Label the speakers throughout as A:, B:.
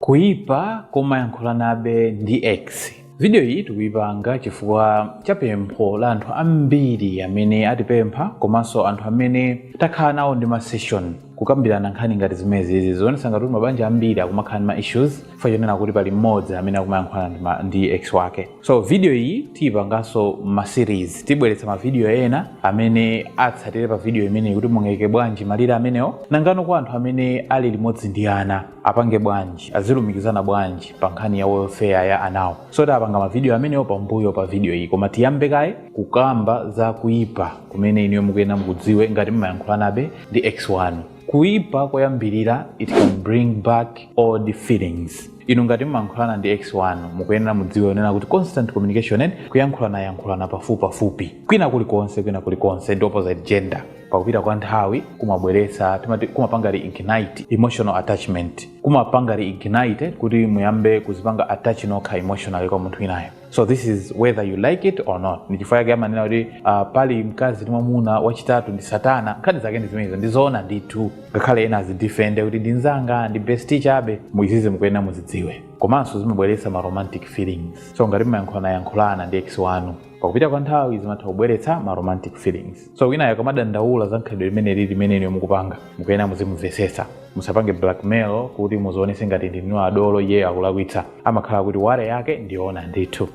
A: Kuipa kumayankhulanabe ndi ex. Video iyi tikuipanga chifukwa cha pempho la anthu ambiri amene atipempha komanso anthu amene takhala nawo ndi ma session kukambirana nkhani ngati zimenezizi zionetsa ngati kuti mabanja ambiri akumakhala ndi ma issues chifukwa chonena kuti pali mmodzi amene akumayankhulana ndi ma- ndi ex wake. so video iyi tiyipanganso ma series tibweretsa ma video ena amene atsatire pa video imeneyi kuti mungaike bwanji malire amenewo nangano kwa anthu amene ali limodzi ndi ana apange bwanji azilumikizana bwanji pa nkhani ya welfare ya anawo so tapanga ma video amenewo pambuyo pa video iyi koma tiyambe kaye kukamba za kuyipa kumene inuyo mukuyenera mukudziwe ngati mumayankhulanabe ndi ex wanu kuipa koyambirira it can bring back old feelings inu ngati mmayankhulana ndi ex wanu mukuyenera mudziwe kunena kuti constant communication and kuyankhulana yankhulana pafupipafupi kwina kulikonse kwina kulikonse ndi opposite gender pakupita kwa nthawi kumabweretsa timati kumapanga reignite emotional attachment kumapanga reignite kuti muyambe kuzipanga attach nokha emotionally kwa munthu winayo so this is whether you like it or not ndi chifukwa chake amanena kuti uh, pali mkazi ndi mwamuna wachitatu ndi satana nkhani zake ndi zimenezo ndizoona ndithu ngakhale ena azidifende kuti ndi nzanga ndi besti chabe mu izizi mukuyenera muzidziwe komanso zimabweretsa ma romantic feelings so ngati mumayankhulanayankhulana ndi ex wanu pakupita kwa nthawi zimatha kubweretsa ma romantic feelings so winayo akamadandaula za khalidwe limene li limene inuyo mukupanga mukuyenera muzimumvetsetsa musapange blackmail kuti muzionetse ngati ndinu adolo iyeyo akulakwitsa amakhala kuti worry yake ndiyoona ndithu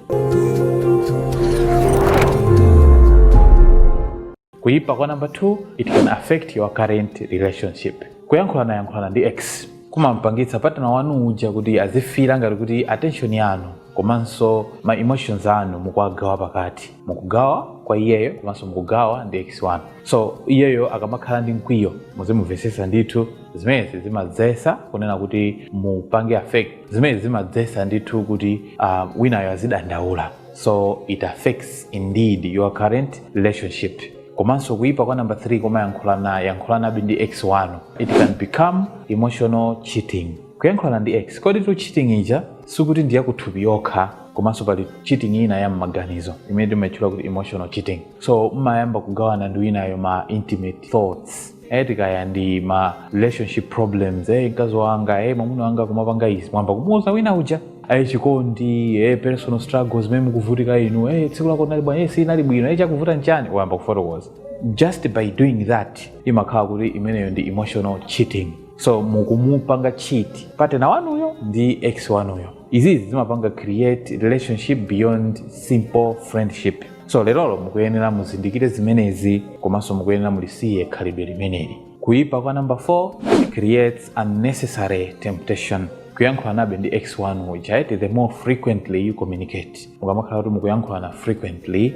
A: kuyipa kwa number 2 it can affect your current relationship kuyankhulana yankhulana ndi ex kumampangitsa partner wanu uja kuti azifila ngati kuti attention yanu komanso ma emotions anu mukuwagawa pakati mukugawa kwa iyeyo komanso mukugawa ndi ex wanu so iyeyo akamakhala ndi mkwiyo muzimumvetsetsa ndithu zimenezi zimadzesa kunena kuti mupange affect zimenezi zimadzesa ndithu kuti uh, winayo azidandaula so it affects indeed your current relationship komanso kuyipa kwa number 3 kumayankhulana yankhulanabe ndi ex wanu it can become emotional cheating kuyankhulana ndi ex koditu cheating ija sikuti ndiyakuthupi yokha komanso pali cheating ina ya m'maganizo imene timaitchula kuti emotional cheating so mmayamba kugawana ndi winayo ma intimate thoughts eh kaya ndi ma relationship problems eh mkazi wanga eh mwamuna wanga amapanga izi mwayamba kumuuza wina uja eh chikondi eh personal struggles zimene mukuvutika inu eh tsiku lako linali bwino eh silinali bwino eh chakuvuta nchani wayamba kufotokoza just by doing that imakhala kuti imeneyo ndi emotional cheating so mukumupanga cheat partner wanuyo ndi ex wanuyo izi izi zimapanga create relationship beyond simple friendship so lerolo mukuyenera muzindikire zimenezi komanso mukuyenera mulisiye khalidwe limeneli kuyipa kwa number 4 creates unnecessary temptation kuyankhulanabe ndi ex wanu uja eti the more frequently you communicate mukamakhala kuti mukuyankhulana frequently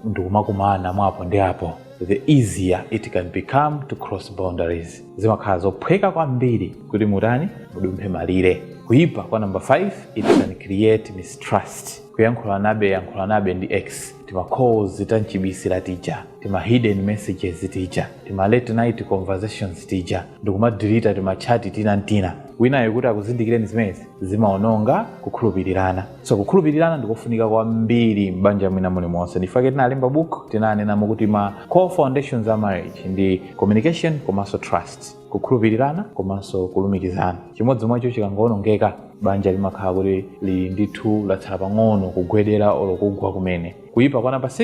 A: ndikumakumana mwapo ndi apo the easier it can become to cross boundaries zimakhala zophweka kwambiri kuti mutani mudumphe malire kuyipa kwa number 5 it can create mistrust kuyankhulanabe yankhulanabe ndi ex tima calls tamchibisira tija tima hidden messages tija tima late night conversations tija ndikumadilita timachati tina n'tina winayo kuti akuzindikireni zimenezi zimaononga kukhulupirirana so kukhulupirirana ndikofunika kwambiri m'banja mwina mulimonse nchifukwa chake tinalemba book tinanenamo kuti ma core foundations a marriage ndi communication komanso trust kukhulupirirana komanso kulumikizana chimodzi mwacho chikangoonongeka banja limakhala kuti lili ndithu latsala pang'ono kugwedera olo kugwa kumene kuyipa kwa namba 6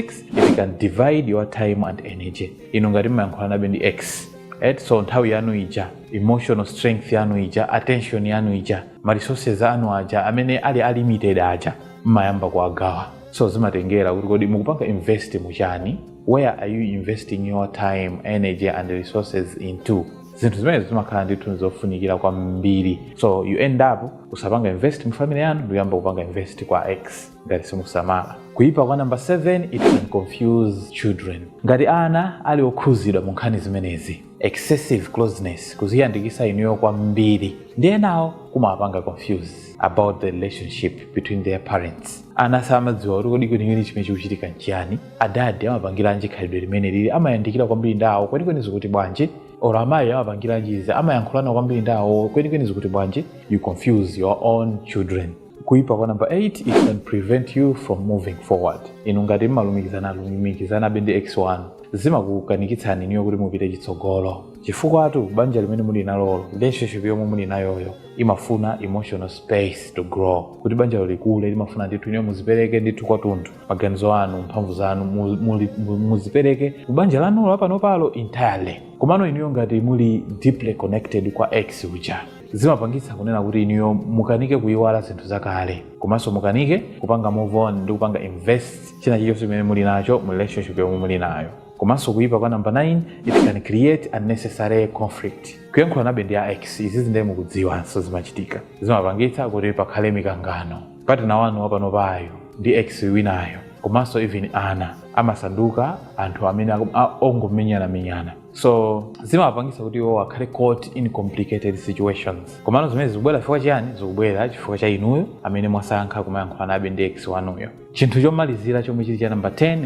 A: it can divide your time and energy inu ngati mmayankhulanabe ndi ex eti so nthawi yanu ija emotional strength yanu ija attention yanu ija ma resources anu aja amene ali a limited aja mmayamba kuwagawa so zimatengera kuti kodi mukupanga invest muchani where are you investing your time energy and resources into zinthu zimenezi zimakhala ndithu zofunikira kwambiri so you end up usapanga invest mu family yanu ndikuyamba kupanga invest kwa ex ngati simusamala kuyipa kwa namba 7 it can confuse children ngati ana ali okhuzidwa mu nkhani zimenezi excessive closeness kuziyandikisa inuyo kwambiri ndi enawo kumawapanga confuse about the relationship between their parents ana samadziwa kuti kodi kwenikweni chimene chikuchitika nchiyani adadi amapangiranji khalidwe limeneli amayandikira kwambiri ndi awo kwenikweni zikuti bwanji or amayi amapangiranji izi amayankhulana kwambiri ndi awo kwenikweni zikuti bwanji you confuse your own children kuipa kwa namba 8 it can prevent you from moving forward inu ngati mmalumikizana lumikizanabe ndi ex wanu zimakukanikitsani inuyo kuti mupite chitsogolo chifukwatu banja limene muli nalolo relationship yomwe muli nayoyo imafuna emotional space to grow kuti banjalo likule limafuna ndithu inuyo muzipereke ndithu kwatunthu maganizo anu mphamvu zanu mu- muli- mu- muzipereke ku banja lanulo lapanopalo entirely komano inuyo ngati muli deeply connected kwa ex uja zimapangitsa kunena kuti inuyo mukanike kuyiwala zinthu zakale komanso mukanike kupanga move on ndi kupanga invest china chilichonse chimene muli nacho mu relationship yomwe muli nayo komanso kuyipa kwa number 9 it can create unnecessary conflict kuyankhulanabe ndi a ex izizi ndiye mukudziwanso zimachitika zimapangitsa kuti pakhale mikangano patina wanu wapanopayo ndi ex winayo komanso even ana amasanduka anthu amene aku- a- ongomenyanamenyana so zimapangisa kuti iwo akhale caught in complicated situations komano zimene zikubwera chifukwa chiyani zikubwera chifukwa cha inuyo amene mwasankha kumayankhulanabe ndi ex wanuyo chinthu chomalizira chomwe chili cha number 10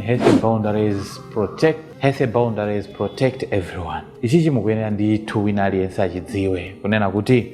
A: healthy boundaries protect everyone ichi chimukuyenera ndithu wina aliyense achidziwe kunena kuti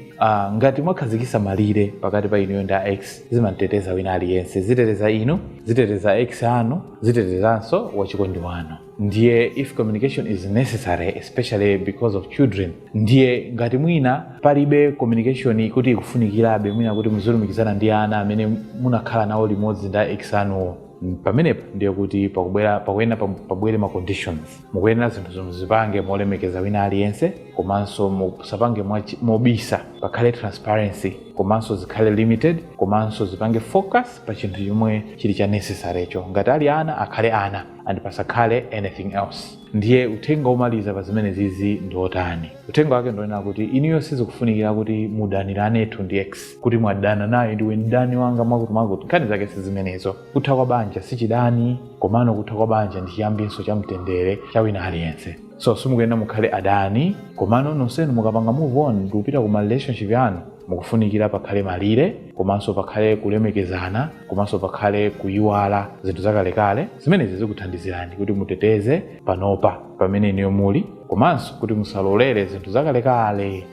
A: ngati mwakhazikitsa malire pakati pa inuyo ndi ex zimateteza wina aliyense ziteteza inu ziteteza ex anu zitetezanso wachikondi wanu ndiye if communication is necessary especially because of children ndiye ngati mwina palibe communication kuti ikufunikirabe mwina kuti muzilumikizana ndi ana amene munakhala nawo limodzi ndi ex anuwo Mm, pamenepo ndiye kuti pakubwera pakuyenera pam- pabwere ma conditions mukuyenera zinthuzo muzipange molemekeza wina aliyense komanso musapange mwachi- mobisa pakhale transparency komanso zikhale limited komanso zipange focus pa chinthu chomwe chili cha necessarycho ngati ali ana akhale ana and pasakhale anything else ndiye uthenga womaliza pa zimenezizi ndi wotani uthenga wake ndi wonena kuti inuyo sizikufunikira kuti mudaniranetu ndi ex kuti mwadana naye ndiwe mdani wanga mwakutimwakuti nkhani zake si zimenezo kutha kwa banja si chidani komano kutha kwa banja ndi chiyambinso cha mtendere cha wina aliyense so simukuyenera mukhale adani komano nonsenu mukapanga move on ndikupita ku ma relationship yanu mukufunikira pakhale malire komanso pakhale kulemekezana komanso pakhale kuyiwala zinthu zakalekale zimenezi zikuthandizirani kuti muteteze panopa pamene inuyo muli komanso kuti musalolere zinthu zakalekale